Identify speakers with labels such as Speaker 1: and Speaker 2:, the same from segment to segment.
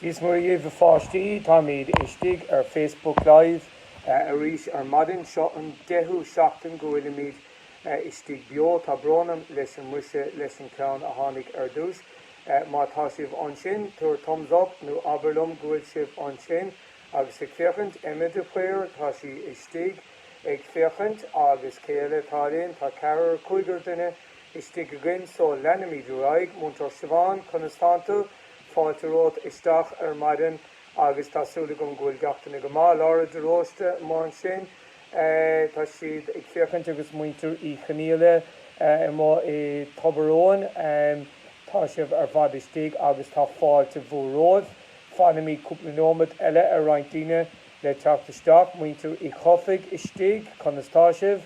Speaker 1: Dia 's Muire dhibh a pháistí, táimíd istigh ar Facebook Live arís ar maidin. Seo an deichiú seachtain go bhfuilimíd istigh beo. Tá brón orm leis an muise leis an ceann a tháinig ar dtúis. Má tá sibh ansin, tabhair thumbs up nó abair liom go bhfuil sibh ansin agus ag féachaint. Emma de Paor, tá sí istigh ag féachaint. Agus cé eile atá linn? Tá ceathrar, cúigear duine. istigh againn so leanfaimid ar aghaidh. Múinteoir Siobhán, Conas tánn tú? Fáilte romhat isteach ar maidin agus tá súil agam go bhfuil gach duine go maith. Lára de Róiste amuigh ansin tá siad ag féachaint agus muintir Uí Chonaíle amuigh i Tobar Eoghain tá sibh ar fad istigh agus tá fáilte mhór romhaibh. Fanfaimid cúpla neomat eile ar roinnt daoine le teacht isteach, muintir Uí Chofaigh istigh, conas tá sibh?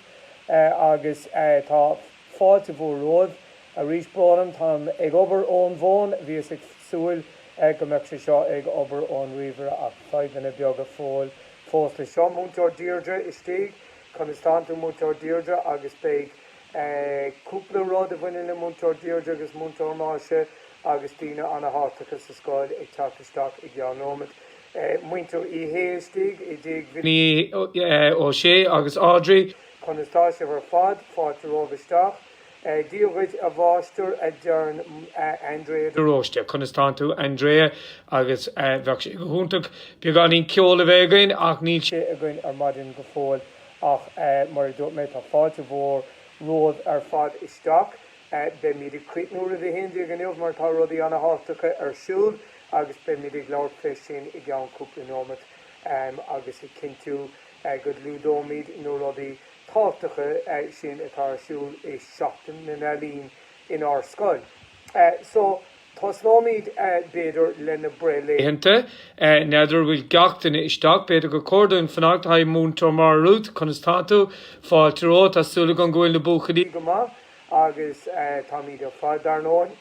Speaker 1: agus tá fáilte mhór romhaibh arís. Brón orm, táim ag obair ón bhfón, bhíos ag súil go mbeadh sé seo ag obair ón ríomhaire ach fadhbanna beaga fós leis seo. Múinteoir Deirdre istigh, conas tánn tú Múinteoir Deirdre? agus beidh cúpla rud a bhaineann le Múinteoir Deirdre agus Múinteoir Máise agus daoine ana-thábhachtacha sa scoil ag teacht isteach i gceann nóimead. Muintir Uí Shé istigh i dtigh Bhilly Ó Sé agus Audrey. Conas tá sibh ar fad? Fáilte romhaibh isteach. Dia dhuit a mháistir a deireann Andrea de Róiste. Conas tánn tú Andrea agus bheadh sé go hiontach beagáinín ceol a bheith againn ach níl sé againn ar maidin go fóill ach mar a dúirt mé tá fáilte mhór romhaibh ar fad isteach. Beimid ag críochnú roimh a haon déag inniu mar tá rudaí ana thábhachtacha ar siúl agus beimid ag labhairt fé sin i gceann cúpla neomat agus ag cinntiú go gclúdóimid na rudaí tábhachtacha sin atá ar siúl i Seachtain na nEalaíon inár scoil. So. Tosnóimíd, b'fhéidir, le na breithlaethanta,
Speaker 2: n'fheadar an bhfuil gach duine isteach. B'fhéidir gur cóir dúinn fanacht. Haigh, Múinteoir Máire Ruth, conas tá tú? Fáilte romhat. Tá súil agam go bhfuil na buachaillí go maith
Speaker 1: agus táimíd ar fad, dar ndóigh,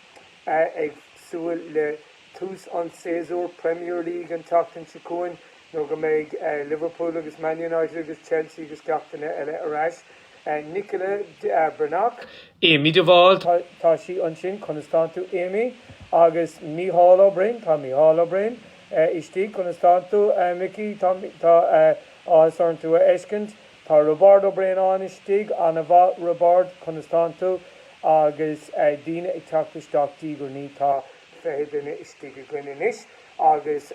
Speaker 1: ag súil le tús an tséasúir Premier League an tseachtain seo chugainn nuair go mbeidh Liverpool agus Man United agus Chelsea agus gach duine eile ar ais. Nicola Breathnach. Amy
Speaker 2: de Bhál, tá sí
Speaker 1: ansin. Conas tánn tú Amy? Agus Mícheál Ó Broin, tá Mícheál Ó Broin istigh. Conas tánn tú Micí? Tá áthas orm tú a fheiscint. Tá Roibeárd Ó Braonáin istigh. Ana-mhaith Roibeárd, conas tánn tú? Agus daoine ag teacht isteach diaidh ar ndiaidh. Tá fiche duine istigh againn anois agus.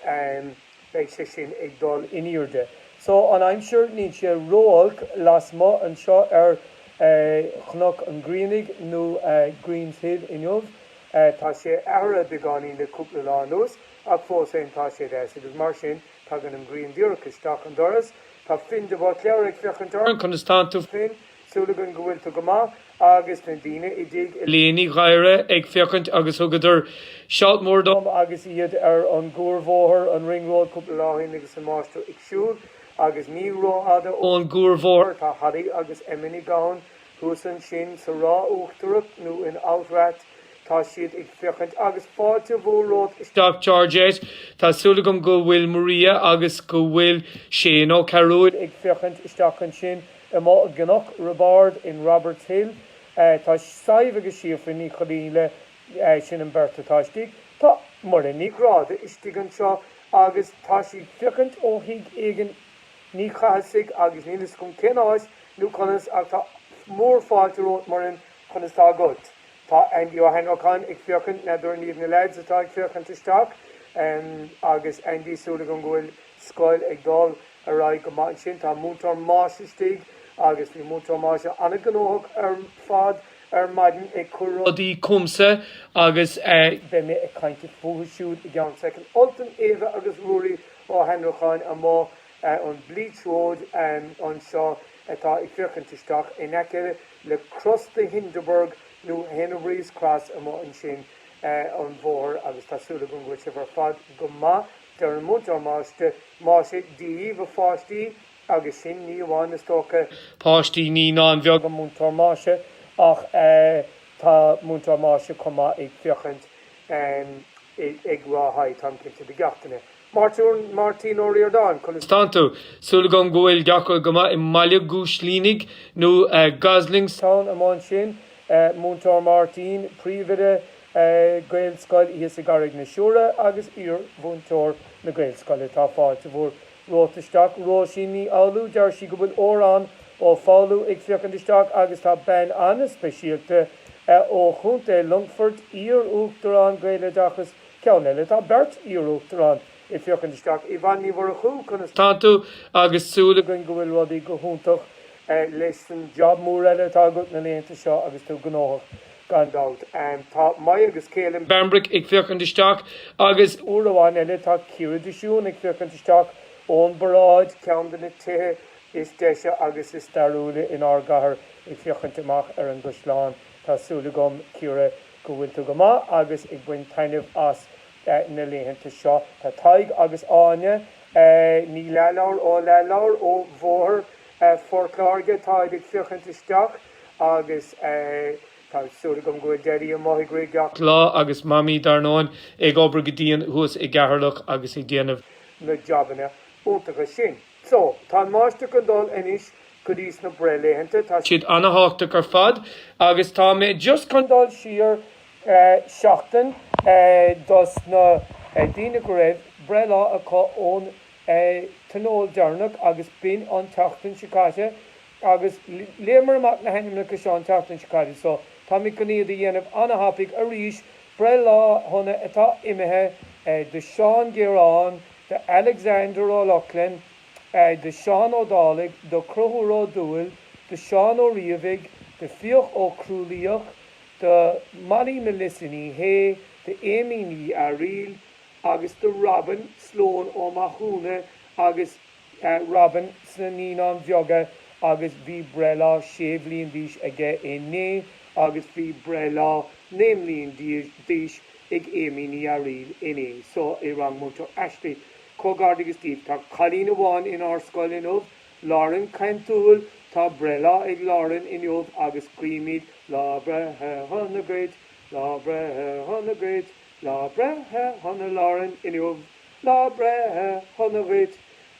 Speaker 1: beidh sé sin ag dul in aoirde. So an aimsir, níl sé ró-olc lasmuigh anseo ar Chnoc an Ghrianaigh nó Green's Hill inniu. Tá sé athraithe beagáinín le cúpla lá anuas ach fós féin tá sé deas agus mar sin tagann an ghrian díreach isteach an doras. Tá Finn de Buitléar ag féachaint orainn, conas tánn tú Finn? Súil againn go bhfuil tú go maith agus na daoine i dTigh Lí Ní
Speaker 2: Ghadhra ag féachaint agus thugadar shout mór dom agus iad ar
Speaker 1: an gcuarbhóthar, an Ring Road, cúpla lá ó shin agus an máistir ag siúl agus ní ró-fhada ón gcuarbhóthar
Speaker 2: tá Harry
Speaker 1: agus Emma Ní Ógáin. Thuas ansin sa Ráth Uachtarach nó in Outrath tá siad ag féachaint agus fáilte mhór romhat isteach Georgette.
Speaker 2: Tá súil agam go bhfuil Maria agus go bhfuil Shane Ó Cearúill ag féachaint isteach
Speaker 1: ansin. Amuigh i gCnoc Roibeáird in Roberts Hill tá Sadhbh agus Síofra Ní Chonaola, sin an bheirt atá istigh. Tá Muireann Ní Ghráda istigh anseo agus tá sí ag féachaint ó thigh éigin Ní Chathasaigh agus níl fhios agam cén áit nó conas ach tá mór fáilte romhat Muireann conas tá agat? Tá Aindí Ó hAnnracháin ag féachaint n'fheadar an iad na lads atá ag féachaint isteach agus Aindí súil agam go bhfuil scoil ag dul. ar aghaidh go maith ansin. Tá múinteoir Moss istigh agus bhí múinteoir Moss an-ghnóthach ar fad ar maidin ag cur rudaí chughamsa
Speaker 2: agus beidh mé ag
Speaker 1: caint fúthu siúd i gceann soicind. Ultan, Éabha agus Ruairí Ó hAnnracháin amuigh an Bleach Road anseo atá ag féachaint isteach in aice le Cros de Hindeberg nó Hennebry's Cross amuigh ansin an bhóthair agus tá súil agam go bhfuil sibh ar fad go maith. Deireann Múinteoir Moss Dia daoibh a pháistí agus sin ní amháin is dócha. páistí Naíonáin
Speaker 2: Bheaga Múinteoir Moss
Speaker 1: ach tá Múinteoir Moss chomh maith ag féachaint ag rá haigh táim cinnte do gach éinne. Máirtín Ó Ríordáin, Conas tá
Speaker 2: tú? Súil agam go bhfuil gach rud go maith i mBaile Gúislínigh nó Goslingstown
Speaker 1: amuigh ansin. Múinteoir Máirtín,
Speaker 2: Príomhoide
Speaker 1: ag Gaelscoil thíos i gCarraig na Siúire agus iar-mhúinteoir na Gaelscoile. Tá fáilte mhór romhat isteach. Róisín Ní Fhoghlú, deir sí go bhfuil Órán Ó Foghlú ag féachaint isteach agus tá bean an-speisialta ó Chontae Longfoirt, iar-Uachtarán Gaeloideachas, ceann eile. Tá beirt iar-Uachtarán ag féachaint isteach. Yvonne Ní Mhurchú, conas tá tú agus
Speaker 2: súil againn go bhfuil rudaí go
Speaker 1: hiontach leis an job mór eile atá agat na laethanta seo agus tú gnóthach. gan dabht. Tá Maidhc agus Caelan Bambrick ag
Speaker 2: féachaint isteach agus. Uair amháin eile
Speaker 1: tá Ciara de Siún ag féachaint isteach ón bparáid, ceann de na tithe is deise agus is stairiúila in ár gcathair, ag féachaint amach ar an gcaisleán. Tá súil agam, Ciara, go bhfuil tú go maith agus ag baint taitneamh as na laethanta seo. Tá Tadhg agus Áine Ní Leathlobhair ó Leathlobhair ó Bhóthar Phort Láirge, táid ag féachaint isteach. Agus tá súil agam go Daidí amuigh ag rith gach lá agus
Speaker 2: Mamaí, dar ndóin, ag obair go dian thuas i gCeatharlach agus ag déanamh. na jabanna
Speaker 1: iontacha sin. So, tá an Máistir chun dul anois go dtí sna breithlaethanta. Tá. siad ana-thábhachtach
Speaker 2: ar fad agus tá mé just chun dul
Speaker 1: siar seachtain dos na daoine go raibh breithlá acu ón tionól deireanach agus b'in an tseachtain seo caite. Agus léamar amach na hainmneacha seo an tseachtain seo caite so táimid chun iad a dhéanamh ana-thapaidh arís, breithlá shona atá imithe do Sheán Gearán, do Alexander Ó Lochlainn, do Seán Ó Dálaigh, do Conchúr Ó Dúill, do Seán Ó Riabhaigh, do Fiach Ó Crualaoich, do Molly Milissa Ní Shé, do Amy Ní Fhearaíl agus do Robin Sloan Ó Mathúna agus. Robin sna Naíonáin Bheaga agus bhí breithlá sé bhliain d'aois aige inné agus bhí breithlá naoi mbliain d'aois ag Amy Ní Fhearaíl inné so i rang Múinteoir Ashley. Comhghairdeachas díbh. Tá cailín amháin in ár scoil inniu, Lauren Caintiúil. Tá breithlá ag Lauren inniu agus guímid Lá Breithe Shona duit, Lá Breithe Shona duit, Lá Breithe Shona Lauren inniu. Lá Breithe Shona dhuit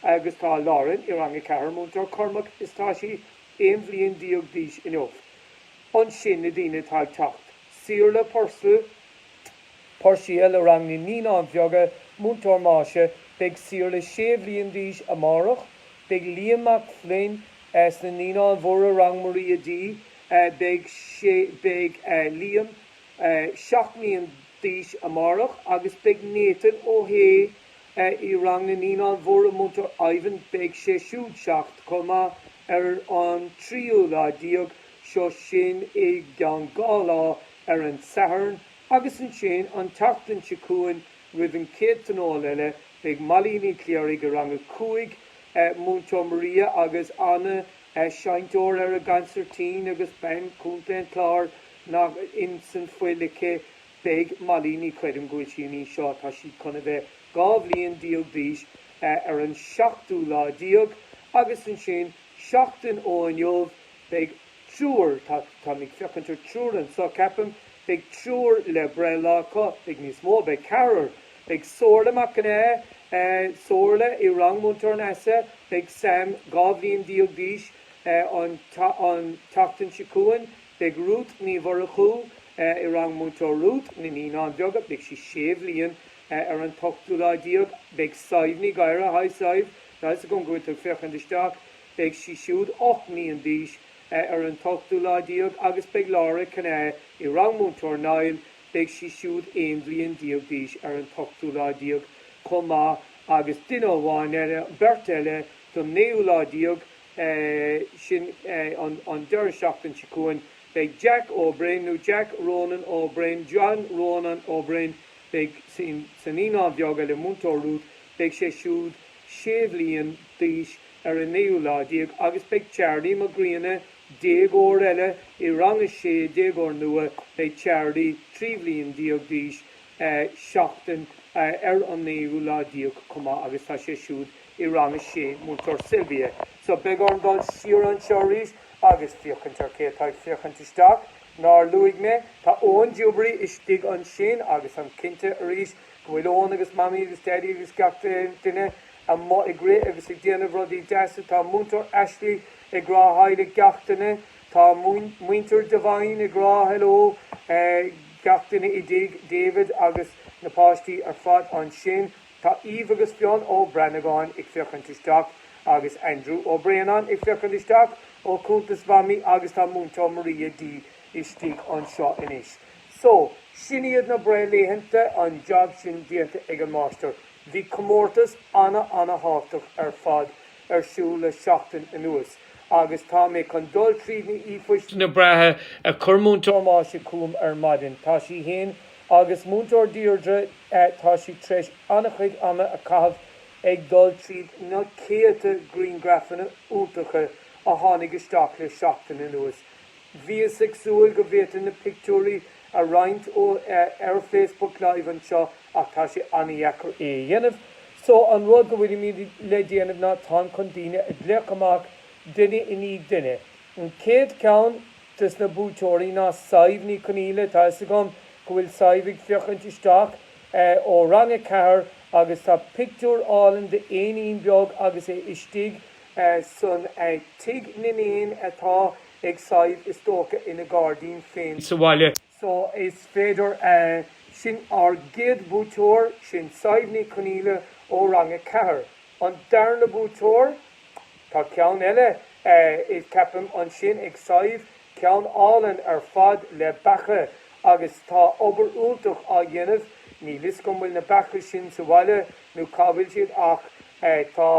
Speaker 1: agus tá Lauren i rang a ceathair, múinteoir Cormac is tá sí aon bhliain déag d'aois inniu. Ansin na daoine atá ag teacht Saorla Pur, Puirséil i rang na naíonáin bheaga, múinteoir Máise beidh Saorla sé bhliain d'aois amárach, beidh Liam Mac Floinn sna naíonáin mhóra rang Maria D, beidh sé beidh Liam seacht mbliain d'aois amárach agus beidh Nathan Ó Shé i rang na Naíonáin Mhóra Múinteoir Ivan, beidh sé siúd seacht chomh maith ar an tríú lá déag, seo sin i gceann dhá lá, ar an Satharn, agus ansin an tseachtain seo chugainn roimh an chéad Tionól eile, beidh Molly Ní Chléirigh i rang a cúig, Múinteoir Maria agus Anna, seinnteoir ar an gcansairtín agus bean Chontae an Chláir, ná ins an fhuil aici beidh Molly, ní chreidim go bhfuil sí an aois seo atá sí chun a bheith dhá bhliain déag d'aois ar an seachtú lá déag agus ansin seachtain ó inniu beidh triúr, tá, táim ag féachaint ar triúr anso ceapaim, beidh triúr le breithlá acu, beidh níos mó, beidh ceathrar, beidh Somhairle Mac an Aodha, Somhairle i rang Múinteoir Neasa, beidh Sam dhá bhliain déag d'aois an tseachtain seo chugainn, Beidh Ruth Ní Mhurchú i rang Múinteoir Ruth na Naíonáin Bheaga. Beidh sí sé bhliain ar an t-ochtú lá déag. Beidh Sadhbh Ní Ghadhra, haigh Sadhbh, tá fhios agam go bhfuil tú ag féachaint isteach, beidh sí siúd ocht mbliain d'aois ar an t-ochtú lá déag agus beidh Laura Kinahan i rang Múinteoir Niall, beidh sí siúd aon bhliain déag d'aois ar an t-ochtú lá déag chomh maith agus duine amháin eile, beirt eile don naoú lá déag sin an deireadh seachtain seo chugainn. Beidh Jack Ó Broin, nó Jack Ronan Ó Broin, John Rónán Ó Broin, beidh sa naíonán bheag eile, Múinteoir Ruth, beidh sé siúd sé bhliain d'aois ar an naoú lá déag agus beidh Charlie Mac Grianna, déagóir eile i rang a sé, déagóir nua, beidh Charlie trí bhliain déag d'aois seachtain ar an naoú lá déag chomh maith agus tá sé siúd i Rang 6, Múinteoir Sylvia, So beidh orm dul siar anseo arís agus féachaint ar cé atá ag féachaint isteach. Nár luaigh mé, tá Eoin Duberry istigh ansin agus táim cinnte arís go bhfuil Eoin agus Mamaí agus Daidí agus gach duine amuigh ag rith agus ag déanamh rudaí deasa. Tá Múinteoir Ashley ag rá Haigh le gach duine. Tá Muintir Devine ag rá Hello gach duine i dTigh David agus na páistí ar fad ansin. Tá Eve agus Fionn Ó Branagáin ag féachaint isteach agus Andrew Ó Braonáin ag féachaint isteach ó chuntas Mhamaí agus tá Múinteoir Maria D istigh anseo anois. So, sin iad na breithlaethanta, an job sin déanta ag an Máistir. Bhí comórtas ana-thábhtach ar fad ar siúl le seachtain anuas agus tá mé chun dul tríd na na breithe a
Speaker 2: chuir Múinteoir Máise chugam ar
Speaker 1: maidin. Tá sí fhéin Agus Múinteoir Deirdre, tá sí tar éis an-chuid ama a caitheamh ag dul tríd na céadta griangrafanna iontacha a tháinig isteach le seachtain anuas. Bhíos ag súil go bhféadfainn na pictiúirí a roinnt ar Facebook Live anseo ach tá sé an-dheacair é a dhéanamh so an rud go bhfuilimid le déanamh ná táim chun daoine a ghlaoch amach duine i ndiaidh duine. An chéad cheann. de na buaiteoirí ná Sadhbh Ní Chonaola. Tá 'fhios agam go bhfuil Sadhbh ag feuchaint isteach ó rang a ceathair agus tá pictiúr álainn d'éinín beag agus é istigh i dtigh na n-éan atá ag Sadhbh is dócha ina gairdín féin. So is féidir sin ár gcéad buaiteoir, sin Sadhbh Ní Chonaola ó rang a ceathair. An darna buaiteoir. Tá ceann eile ceapaim ansin ag Sadhbh, ceann álainn ar fad le beacha agus tá obair iontach á dhéanamh, níl 'fhios agam an bhfuil na beacha sin sa bhaile nó cá bhfuil siad ach tá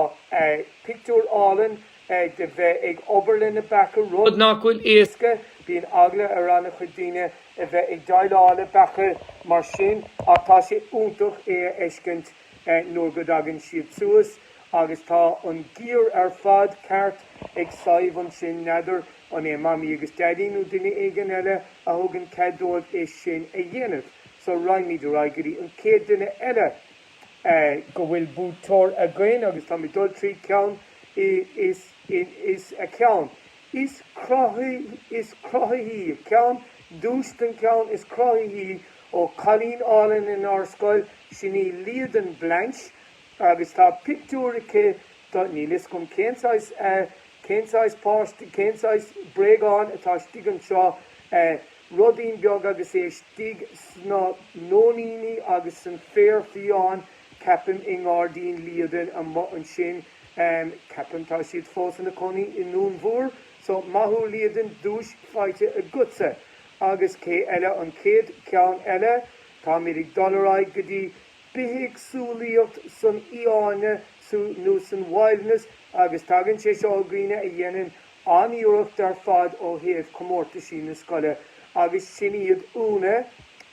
Speaker 1: pictiúr álainn de bheith ag obair leis na beacha rud nach bhfuil
Speaker 2: éasca, bíonn eagla
Speaker 1: ar ana chuid daoine a bheith ag déileáil le beacha mar sin ach tá sé iontach é a fheiscint. nuair go dtagann siad suas agus tá an giar ar fad ceart ag Sadhbh ansin, n'fheadar an é Mamaí agus Daidí nó duine éigin eile a thugann cead dóibh é sin a dhéanamh. So raghaimid ar aghaidh go dtí an chéad duine eile go bhfuil buaiteoir againn agus táim ag dul trí ceann is a ceann is cruthaithí ceann, duais don cheann is cruthaithí. Ó, cailín álainn inár scoil, sin í Liadan Blanche agus tá pictiúr aici do, níl 'fhios agam cén saghas, cén saghas páiste, cén saghas bréagán atá istigh anseo, ruidín beag agus é istigh sna nóiníní agus san féar fiáin, ceapaim i ngairdín Liadain ansin, ceapaim, tá siad fós ina cónaí i nDún Mór, so, maith thú Liadan, duais faighte agatsa. Agus cé eile an chéad ceann eile? Táimid ag dul ar aghaidh go dtí bithéagsúlaíocht san fhiáine nó san wilderness agus tagann sé seo ó dhaoine a dhéanann an-iarracht ar fad ó thaobh chomórtaisí na scoile agus sin iad Úna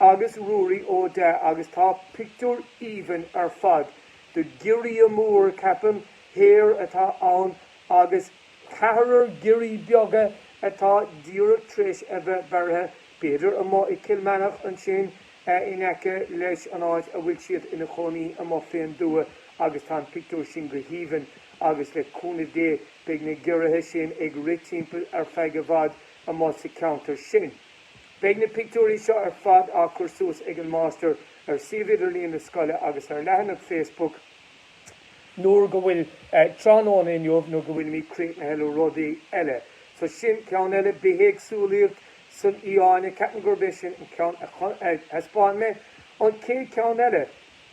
Speaker 1: agus Ruairí Ó Deá agus tá pictiúr aoibhinn ar fad de giorria mór ceapaim hare atá ann agus Ceathrar giorria beaga atá díreach tréis a bheith beirthe, b'fhéidir amuigh i gCill Meanach ansin in aice leis an áit a bhfuil siad ina chónaí amuigh fén dtuath agus tá an pictiúr sin go haoibhinn agus le cúnamh Dé beidh na giorraithe sin ag rith timpeall ar feadh i bhfad amuigh sa cheantar sin. Beidh na pictiúirí seo ar fad á chur suas ag an Máistir ar suíomh idirlíon na scoile agus ar leathanach Facebook nuair go bhfuil tráthnóna inniu, nuair go bhfuilimid críochnaithe le rudaí eile. So sin ceann eile, bithéagsúlacht san fhiáine, ceapaim gurb é sin an ceann a thaispeáin mé. An chéad ceann eile,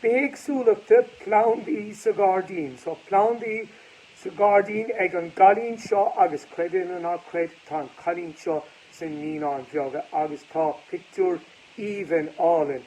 Speaker 1: bithéagsúlachta, plandaí sa ghairdín. So plandaí sa ghairdín ag an gcailín seo agus creid é nó ná creid, tá an cailín seo sna Naíonáin Bheaga agus tá pictiúr aoibhinn álainn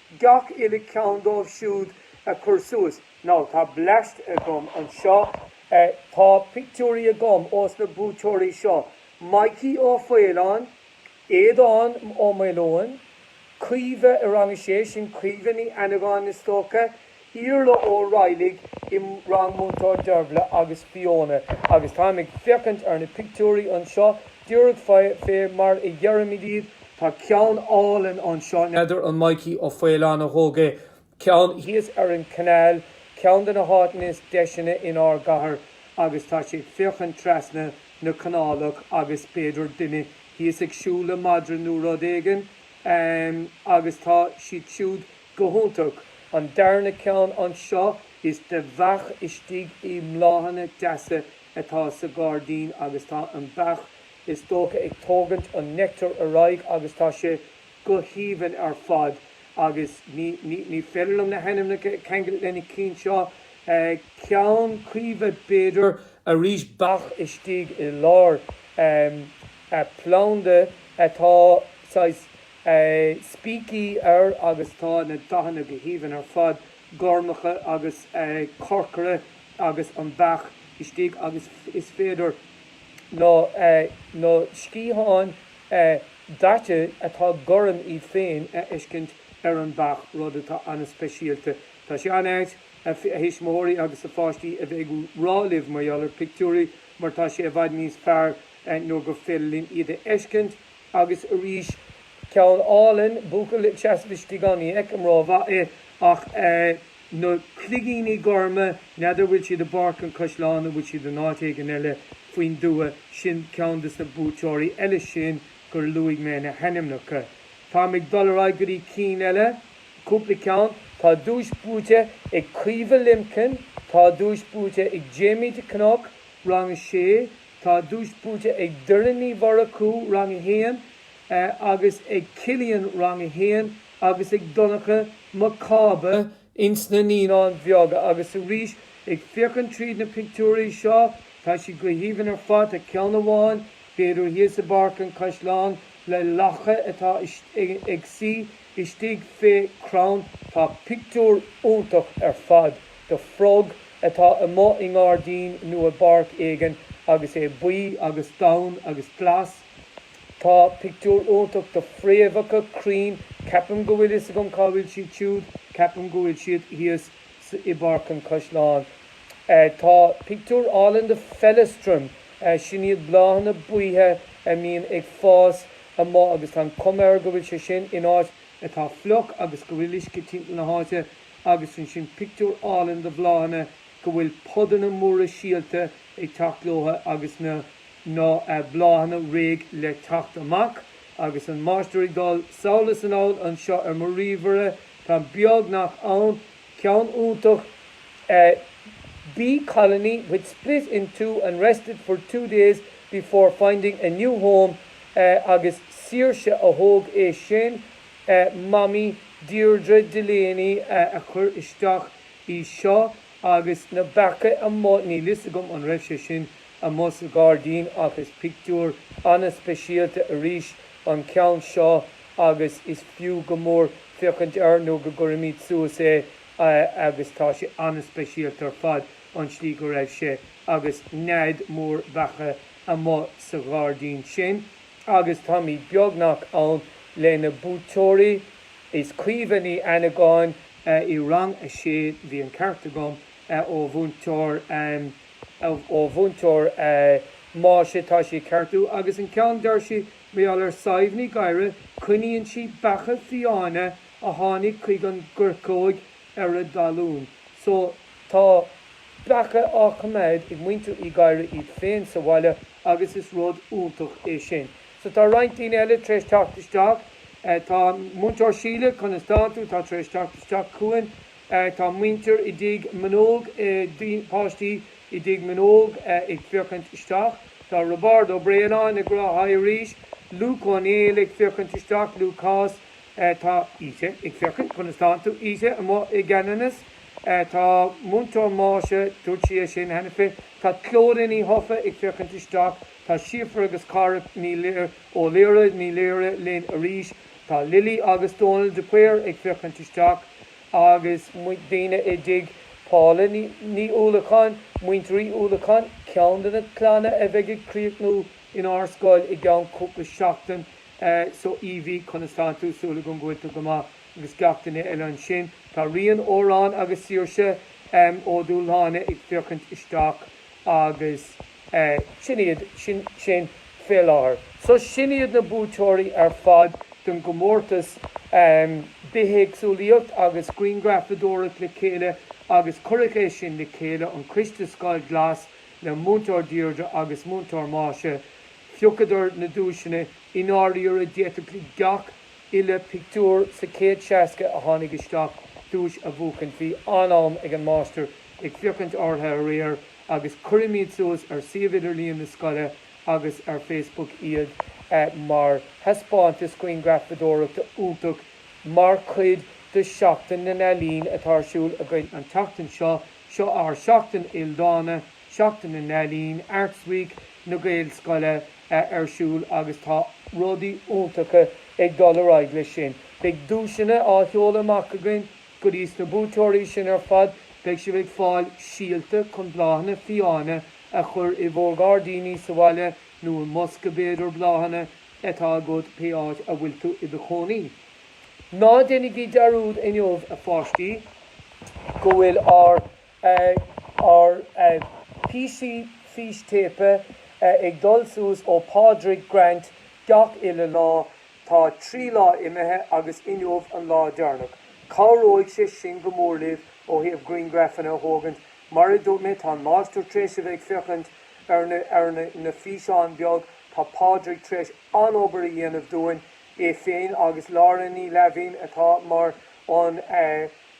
Speaker 1: Gach uile ceann díobh siúd a chur suas. Now tá bleaist agam anseo. Tá pictiúirí agam ós na buaiteoirí seo, Maidhcí Ó Faoláin, Aodán Ó Maoileoin, Caoimhe i rang a sé, sin Caoimhe Ní Annagáin is dócha, Iarla Ó Raghallaigh i rang Múinteoir Deirbhle agus Fiona agus táim ag féachaint ar na pictiúirí anseo. Díreach fé mar a dheirimid iad. Tá ceann álainn anseo, n'fheadar an Maidhcí Ó Faoláin a thóg é, ceann thíos ar an canal, ceann de na háiteanna is deiseanna in ár gcathair agus tá sé ag féachaint trasna na canálach agus b'fhéidir duine thíos ag siúl le madra nó rud éigin agus tá siad siúd Go hiontach! An darna ceann anseo is de bheach istigh i mbláthanna deasa atá sa ghairdín agus tá an beach is dócha ag tógaint an nectar ar aghaidh agus tá sé go haoibhinn ar fad agus ní ní féidir liom na hainmneacha a cheangailt le na cinn seo. Ceann Chaoimhe b'fhéidir arís beach istigh i lár planda atá saghas spící air agus tá na dathanna go haoibhinn ar fad, gormacha agus corcra agus an beach istigh agus is féidir na na sciatháin daite atá gorm iad féin a fheiscint ar an beach rud atá an-speisialta. Tá sé an-ait, a thuismitheoirí agus a pháistí a bheith ag rá libh mar gheall ar pictiúirí mar tá sé i bhfad níos fearr nuair gur féidir linn iad a fheiscint Agus arís, ceann álainn, buachaill ag seasamh istigh ann. Ní fheicim ró mhaith é ach na cloigíní gorma, n'fheadar bhfuil siad i bPáirc an Chaisleáin nó bhfuil siad in áit éigin eile faoin dtuath. Sin ceann des na buaiteoirí eile sin gur luaigh mé na hainmneacha. Táim ag dul ar aghaidh go dtí cinn eile, cúpla ceann. Tá duais buaite ag Caoimhe Limkin, tá duais buaite ag Jamie de Cnoc, Rang 6. Tá duais buaite ag Doireann Ní Mhurchú, Rang 1, agus ag Cillian, Rang 1, agus ag Donncha Mac Cába ins na Naíonáin Bheaga. Agus arís, ag féachaint tríd na pictiúirí seo, tá siad go haoibhinn ar fad. Tá ceann amháin, b'fhéidir, thíos i bPáirc an Chaisleáin le lacha atá ag suí. Istigh fé crann tá pictiúr iontach ar fad do frog atá amuigh i ngairdín nó i bpáirc éigin agus é buí agus donn agus glas. Tá pictiúr iontach do phréamhacha crainn, ceapaim go bhfuil fhios agam cá bhfuil siad siúd, ceapaim go bhfuil siad thíos i bPáirc an Chaisleáin. Tá pictiúr álainn do feileastram, sin iad bláthanna buíthe a mbíonn ag fás amuigh agus tá an cuma air go bhfuil sé sin in áit atá fliuch agus go bhfuil uisce timpeall na háite agus ansin pictiúr álainn de bhláthanna go bhfuil podanna móra síolta ag teacht leo agus na na bláthanna réidh le teacht amach agus an máistir ag dul sall is anall anseo ar mo ríomhaire táim beagnach ann. Ceann iontach a bee colony which split in two and rested for two days before finding a new home agus Saoirse a thóg é sin, Mamaí Deirdre Delaney a chuir isteach é seo agus na beacha amuigh, níl 'fhios agam an raibh sé sin amuigh sa ghairdín ach is pictiúr ana-speisialta arís an ceann seo agus is fiú go mór féachaint air nó go gcuirimid suas é agus tá sé an-speisialta ar fad an tslí go raibh sé agus nead mór beacha amuigh sa ghairdín sin agus táimid beagnach ann le na buaiteoirí is Caoimhe Ní Annagáin i rang a sé bhí an ceart agam ó mhúinteoir ó Mhúinteoir Máise tá sé ceartú agus an ceann deir sí Meall ar Sadhbh Ní Ghadhra, coinníonn sí beacha fiáine a tháinig chuig an gcoirceoig ar a dtalún. So, tá beacha á choimeád ag muintir Uí Ghadhra iad féin sa bhaile agus is rud iontach é sin. So, tá roinnt daoine eile tar éis teacht isteach. Tá Múinteoir Síle, conas atá tú? Tá tar éis teacht isteach chugainn. Tá muintir i dTigh Meanóg, páistí i dTigh Meanóg ag féachaint isteach. Tá Roibeárd Ó Braonáin ag rá Haigh arís. Luke Ó Néill ag féachaint isteach, Lúcás. Tá Íte ag féachaint. Conas tánn tú Íte? Amuigh i gCeanannas. Tá Múinteoir Máise, dúirt sí é sin cheana féin. Tá Clodagh Ní Thofa ag féachaint isteach. Tá Síofra agus Cára Ní Laoire, Ó Laoire, Ní Laoire linn arís. Tá Lily agus Dónal de Paor ag féachaint isteach agus daoine i dtigh Paula Ní Uallacháin, Muintir Uí Uallacháin, ceann de na clanna a bheidh ag críochnú inár scoil i gceann cúpla seachtain. So Evie, conas tánn tú? Súil agam go bhfuil tú go maith agus gach duine eile ansin. Tá Rian, Odhrán agus Saoirse Ó Dúshláine ag féachaint isteach agus. Eh, sin iad, sin, sin, fé láthair. So sin iad na buaiteoirí ar fad don gcomórtas ehm bithéagsúlaíocht agus grianghrafadóireacht le chéile agus cuireadh é sin le chéile, an Coiste Scoil Glas le Múinteoir Deirdre agus Múinteoir Máise, phiocadar na duaiseanna, i ndáiríre d'fhéadfadh gach uile pictiúr sa chéad seasca a tháinig isteach duais a bhuachaint, bhí an-am ag an Máistir ag féachaint orthu aréir agus cuirimid suas ar suíomh idirlíon na scoile agus ar Facebook iad mar thaispeántas grianghrafadóireachta iontach mar chuid de Seachtain na nEalaíon atá ar siúl againn an tseachtain seo. Seo ár Seachtain Ildána, Seachtain na nEalaíon, Arts Week na Gaelscoile ar siúl agus tá rudaí iontacha ag dul ar aghaidh leis sin. Beidh duaiseanna á sheoladh amach againn Go dtí sna buaiteoirí sin ar fad, beidh sibh ag fáil síolta chun bláthanna fiáine a chur i bhur ngairdíní sa bhaile nó i mbosca b'fhéidir bláthanna atá agat pé áit a bhfuil tú i do chónaí. Ná déanaigí dearúd inniu a pháistí go bhfuil ár bpíosaí fístéipe ag dul suas ó Pádraig Grant gach uile lá. Tá trí lá imithe agus inniu an lá deireanach. Cabhróidh sé sin go mór libh ó thaobh griangraifeanna a thógaint. Mar a dúirt mé, tá an Máistir tréis a bheith ag féachaint ar na físeáin beag. Tá Pádraig tréis an-obair a dhéanamh dúinn, é féin agus Lauren Ní Laimhín atá mar an.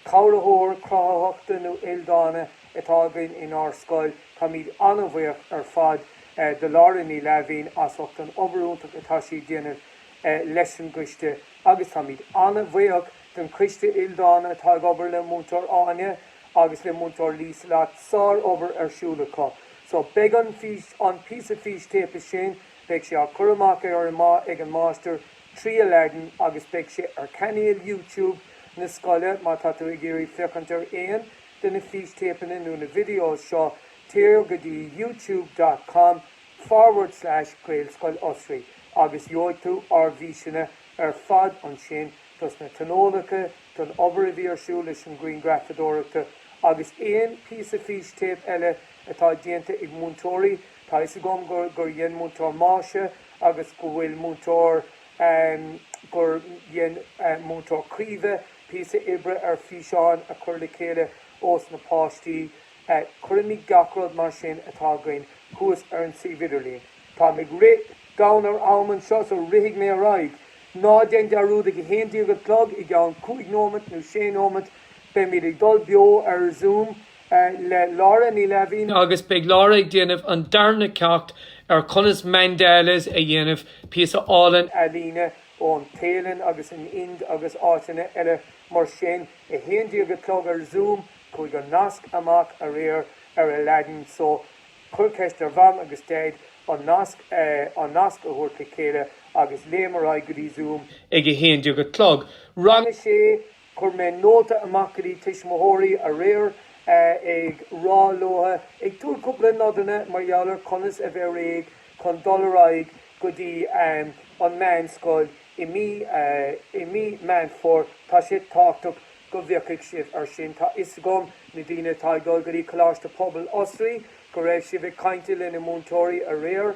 Speaker 1: Cabhraitheoir cruthaitheachta nó ildána atá againn inár scoil. Táimid an-bhuíoch ar fad do Lauren Ní Laimhín as ucht an obair iontach atá sí ag déanamh leis an gcoiste agus táimid an-bhuíoch don coiste ildána atá ag obair le Múinteoir Áine agus le Múinteoir Lieselott, sár-obair ar siúl acu. So beidh an píosa fístéipe sin, beidh sé á cur amach arís ag an máistir, trí Aladdin agus beidh sé ar chainéal YouTube na scoile má tá tú ag iarraidh féachaint ar aon de na fístéipeanna nó na videos seo téir go dtí youtube.com forward slash gaelscoil osraí agus gheobhaidh tú ár bhfíseanna ar fad ansin dos na tionólacha, don obair a bhí ar siúl leis an ghrianghrafadóireachta agus aon phíosa fístéipe eile atá déanta ag múinteoirí Tá fhios agam gur dhein Múinteoir Máise agus go bhfuil múinteoir gur dhein Múinteoir Caoimhe píosa oibre ar físeáin a chur le chéile ós na páistí. Cuirimid gach rud mar sin atá againn thuas ar an suíomh idirlín. Táim ag rith gann ar am anseo so rithfidh mé ar aghaidh. Ná déan dearúd ag a haon déag a chlog i gceann cúig nóimeat nó sé nóimeat. Beimid ag dul beo ar Zoom. le Laura Ní Laimhín. Agus beidh Laura
Speaker 2: ag déanamh an darna ceacht ar conas mandalas a dhéanamh, píosa álainn ealaíne
Speaker 1: ón Téalainn agus an Ind agus áiteanna eile mar sin. 11 a chlog ar Zoom, chuaigh an nasc amach aréir ar Aladdin so cuir ceist ar mham agus daid an nasc an nasc a thabhairt le chéile agus léim ar aghaidh go dtí Zoom. Ag 11 a
Speaker 2: chlog, rang 6,
Speaker 1: Chuir mé nóta amach go dtí tuismitheoirí aréir ag rá leo, ag tabhairt cúpla nodanna mar gheall ar conas a bheith réidh chun dul ar aghaidh go dtí an meánscoil i mí i mí Meán Fómhair. Tá sé tábhachtach go bhféachfaidh sibh ar sin. Tá fhios agam na daoine atá ag dul go dtí Coláiste Pobail Osraí go raibh sibh ag caint le na múinteoirí aréir.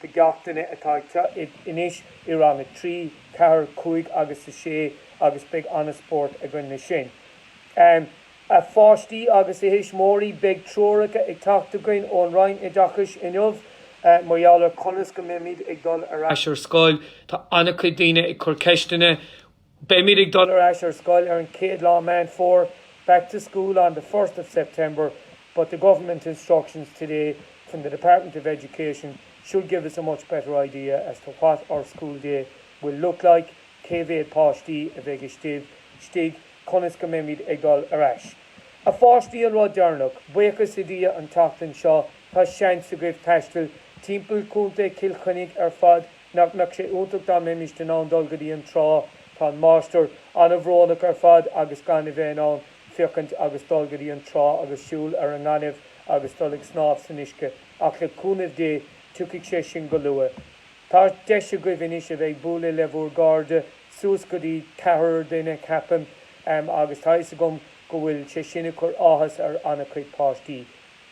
Speaker 1: do gach duine atá anois i rang a trí, ceathair, cúig agus a sé agus beidh an-spórt againn le sin. A pháistí agus a thuismitheoirí, beidh treoracha ag teacht againn ón Roinn Oideachais inniu mar gheall ar conas go mbeimid ag dul ar ais ar scoil. Tá
Speaker 2: an-chuid daoine ag cur ceisteanna Beimid ag dul ar ais ar scoil ar
Speaker 1: an chéad lá Meán Fómhair, back to school on the first of September, but the government instructions today from the Department of Education should give us a much better idea as to what our school day will look like, cé mhéad páistí a bheidh istigh, conas go mbeimid ag dul ar ais. A pháistí an rud deireanach, buíochas le Dia an tseachtain seo tá seans agaibh taisteal timpeall Contae Chill Chainnigh ar fad, Nach mbeadh sé iontach dá mbeimis in ann dul go dtí an trá? Tá an máistir an-bhrónach ar fad agus gan a bheith in ann féachaint agus dul go dtí an trá agus siúl ar an ngaineamh agus dul ag snámh san uisce. Ach le cúnamh Dé, tiocfaidh sé sin go luath. Tá deis agaibh anois a bheith ag bualadh le bhur gcairde, suas go dtí ceathrar duine, ceapaim, agus tá fhios agam go bhfuil sé sin ag cur áthas ar an-chuid páistí.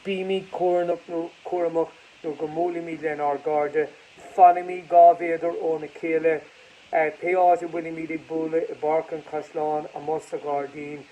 Speaker 1: Bímis cúramach. Nuair go mbuailimid lenár gcairde, fanaimis dhá mhéadar óna chéile. Pé áit a bhfuilimid ag bualadh, i bpáirc, an caisleán, amuigh sa ghairdín.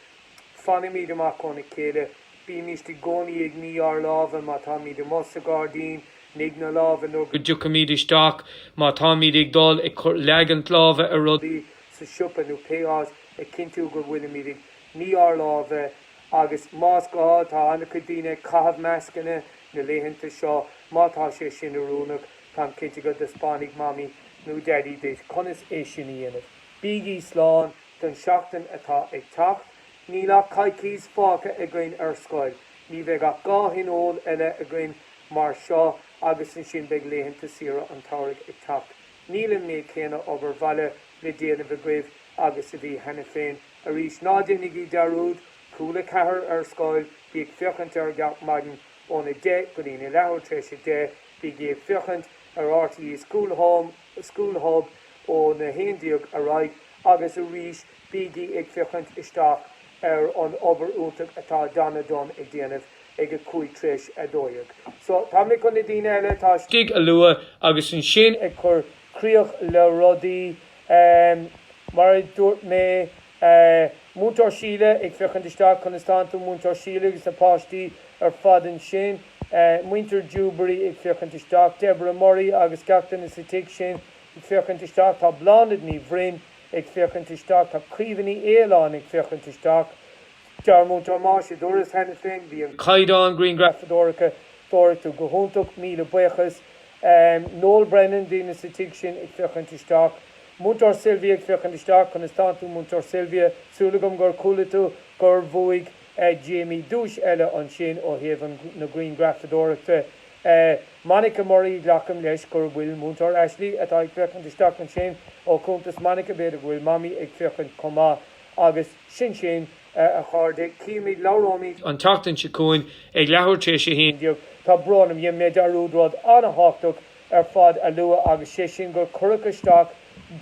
Speaker 1: Fanaimid amach óna chéile. Bímist i gcónaí ag ní ár lámha má táimid amuigh sa ghairdín. Nigh na lámha nuair go dtiocfaimid
Speaker 2: isteach. Má táimid ag dul ag cur leagaint láimhe ar rud ar bith sa siopa nó
Speaker 1: pé áit, ag cinntiú go bhfuilimid ag ní ár lámha. Agus más gá, tá an-chuid daoine ag caitheamh mascanna na laethanta seo. Má tá sé sin oiriúnach, táim cinnte go dtaispeánfaidh Mamaí nó Daidí duit conas é sin a dhéanamh. Bígí slán don seachtain atá ag teacht. Níl ach coicís fágtha againn ar scoil. Ní bheidh ach dhá thionól eile againn mar seo agus ansin beidh laethanta saoire an tsamhraidh ag teacht. Níl an méid céanna obair bhaile le déanamh agaibh agus a bhí cheana féin. Arís, ná déanaigí dearúd, Cúla4 ar scoil, bígí ag féachaint air gach maidin ón a deich go dtí'n a leathuair tar éis a deich, bígí ag féachaint ar RTÉ School Home, School Hub ón a haon déag ar aghaidh agus arís bígí ag féachaint isteach ar an obair iontach atá Donna Dunne ag déanamh ag a cúig tar éis a dó dhéag. So, tá mé chun na daoine eile atá istigh a lua
Speaker 2: agus ansin ag cur críoch
Speaker 1: le rudaí Aaamm, mar a dúirt mé, Múinteoir Síle ag féachaint isteach, conas tánn tú? Múinteoir Síle agus na páistí ar fad ansin. Muintir Dewberry ag féachaint isteach. Deborah Murray agus gach duine sa tigh sin ag féachaint isteach. Tá Bláthnaid Ní Bhroin ag féachaint isteach. Tá Caoimhe Ní Fhaoláin ag féachaint isteach. Dear Múinteoir, mar a dúras cheana féin, bhí an caighdeán griangrafadóireachta go hiontach, míle buíochas Ahm, Noel Brennan, daoine sa tigh sin ag féachaint isteach. Múinteoir Sylvia ag féachaint isteach, conas tánn tú Múinteoir Sylvia, súil agam gur chuala tú gur bhuaigh eh Jamie duais eile ansin ó thaobh na griangrafadóireachta eh Monica Murray glacaim leis gur bhfuil Múinteoir Ashley atá ag féachaint isteach ansin, ó chuntas Monica b'fhéidir go bhfuil Mamaí ag féachaint chomh maith. Agus sin sin. A chairde, cífimid, labhróimid, an tseachtain seo
Speaker 2: chugainn ag leathuair tar éis a haon déag. Tá brón orm, dhein
Speaker 1: mé dearúd rud an-thábhachtach ar fad a lua agus sé sin gur cuireadh isteach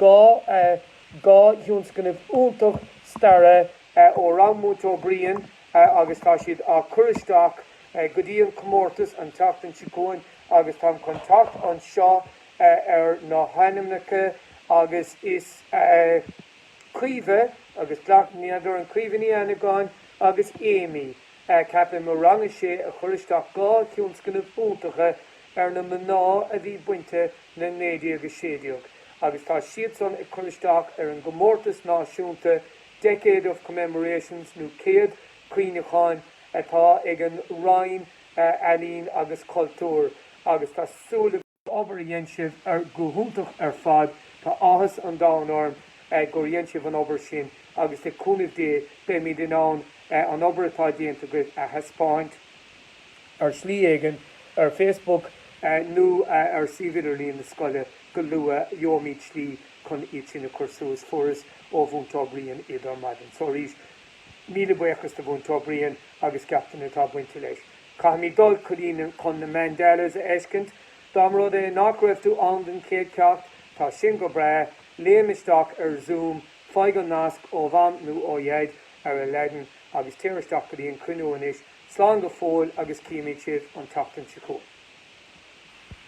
Speaker 1: dhá thionscnamh iontach staire ó rang Múinteoir Brian agus tá siad á cur isteach go dtí an comórtas an tseachtain seo chugainn agus táim chun teacht anseo ar na hainmneacha agus is. Caoimhe, agus glacaim gurb í Caoimhe Ní Fhlannagáin agus Amy, ceapaim, ó rang a sé a chuir isteach dhá thionscnamh iontacha ar na mná a bhí bainte le 1916 agus tá siadsan á chur isteach ar an gcomórtas náisiúnta Decade of Commemorations nó Céad Cuimhneacháin atá ag an Roinn Ealaíon agus Cultúir agus tá súil agam obair a dhein sibh go hiontach ar fad. Tá áthas an domhain orm gur dhein sibh an obair sin agus le cúnamh Dé beimid in ann an obair atá déanta agaibh a thaispeáint ar shlí éigin, ar Facebook nó ar suíomh idirlíon na scoile go luath. Gheobhaimid slí chun iad sin a chur suas. Fuaireas ó Mhúinteoir Brian iad ar maidin. So arís, míle buíochas do Mhúinteoir Brian agus gach duine atá bainte leis. Caithfimid dul go dtí na, chun na mandalas a fheiscint. Dá mba rud é nach raibh tú ann don chéad cheacht, tá sin go breá, léim isteach ar Zoom, faigh an nasc ó Mham nó ó Dhaid ar Aladdin agus téir isteach go dtí an cruinniú anois. Slán go fóill agus cífimid sibh an tseachtain seo chugainn.